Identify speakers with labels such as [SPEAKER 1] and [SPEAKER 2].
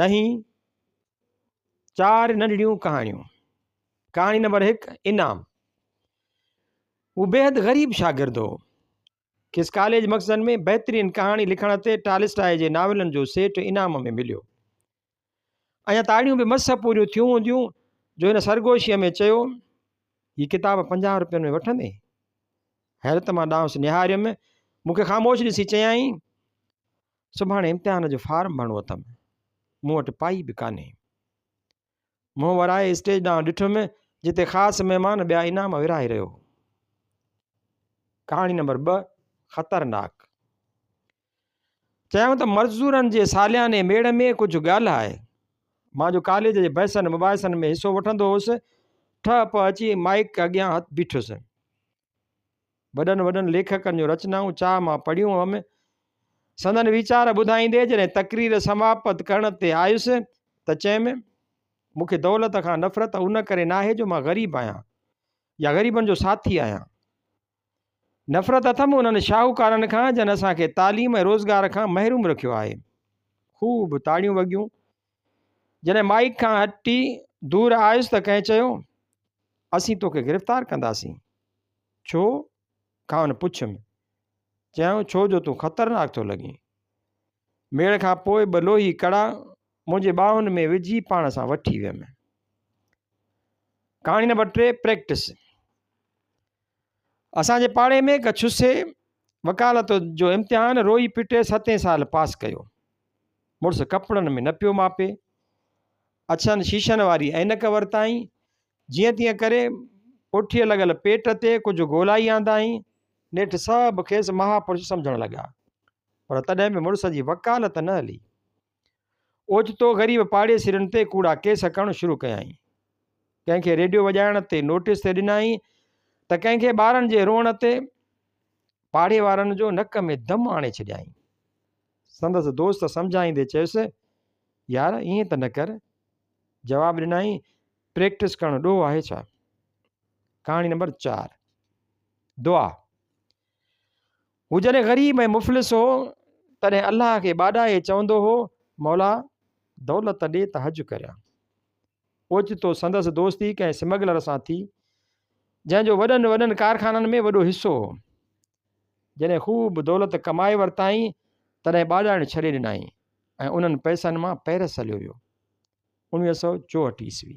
[SPEAKER 1] ڏهين، چار ننڍڙيون ڪهاڻيون، ڪهاڻي نمبر هڪ، انعام هو بيحد غريب شاگرد هو، کيس ڪاليج مخزن ۾ بهترين ڪهاڻي لکڻ تي ٽالسٽاء جي ناولن جو سيٽ انعام ۾ مليو. اڃا تاڙيون به مس پوريون ٿيون هونديون جو هن سرگوشيء ۾ چيو، هي ڪتاب پنجاهه روپين ۾ وٺندين؟ حيرت مان ڏانهس نهاريم، مون کي خاموش ڏسي چيائين، سڀاڻي امتحان جو فارم ڀرڻو اٿم مون وٽ پائي به ڪانهي منهن ورائي اسٽيج ڏانهن ڏٺم جتي خاص مهمان ٻيا انعام ورهائي رهيو هو ڪهاڻي نمبر ٻ خطرناڪ چيائون ته مزدورن جي سالياني ميڙ ۾ ڪجهه ڳالهه آهي مان جو ڪاليج جي بحثن مباحثن ۾ حصو وٺندو هوس ٺهه پهه اچي مائڪ اڳيان هٿ بيٺس وڏن وڏن ليکڪن جون رچنائون چاهه مان پڙهيون هئم. سندن ويچار ٻڌائيندي جڏهن تقرير سماپت ڪرڻ تي آيس ته چيم، مون کي دولت کان نفرت ان ڪري ناهي جو مان غريب آهيان يا غريبن جو ساٿي آهيان. نفرت اٿم انهن شاهوڪارن کان جن اسان کي تعليم ۽ روزگار کان محروم رکيو آهي. خوب تاڙيون وڳيون جڏهن مائيڪ کان هٽي دور آيس ته ڪنهن چيو، اسين توکي گرفتار ڪنداسين. ڇو؟ کانئن پڇيم. چيائون، ڇو جو تون خطرناڪ ٿو لڳين. ميڙ کان پوء ٻه لوهي ڪڙا منهنجي ٻانهن ۾ وجهي پاڻ سان وٺي ويم. ڪهاڻي نمبر ٽي، پريڪٽس. اسان جي پاڙي ۾ هڪ ڇسي وڪالت جو امتحان روئي پٽي ستين سال پاس ڪيو. مڙس ڪپڙن ۾ نه پيو ماپي. اڇن شيشن واري عينڪ ورتائين. جيئن تيئن ڪري پٺيء لڳل پيٽ تي ڪجهه ڳولائي آندائين. نيٺ سڀ کيس مهاپرش سمجهڻ لڳا. پر تڏهن به مڙس جي وڪالت نه هلي. اوچتو غريب پاڙيسرين تي ڪوڙا ڪيس ڪرڻ شروع ڪيائين. ڪنهن کي ريڊيو وڄائڻ تي نوٽيس تي ڏنائين ته ڪنهن کي ٻارن جي روئڻ تي پاڙي وارن جو نڪ ۾ دم آڻي ڇڏيائين. سندس دوست سمجهائيندي چيس، يار ائين ته نه ڪر. جواب ڏنائين، پريڪٽس ڪرڻ ڏوهه آهي ڇا؟ ڪهاڻي نمبر چار، دعا. هو جڏهن غريب ۽ مفلس هو تڏهن الله کي ٻاڏائي چوندو هو مولا دولت ڏي ته حج ڪريان اوچتو سندس دوستي ڪنهن سمگلر سان ٿي جنهن جو وڏن وڏن ڪارخانن ۾ وڏو حصو هو جڏهن خوب دولت ڪمائي ورتائين تڏهن ٻاڏائڻ ڇڏي ڏنائين ۽ انهن پئسن مان پيرس هليو ويو انويهه سؤ چوهٺ عيسوي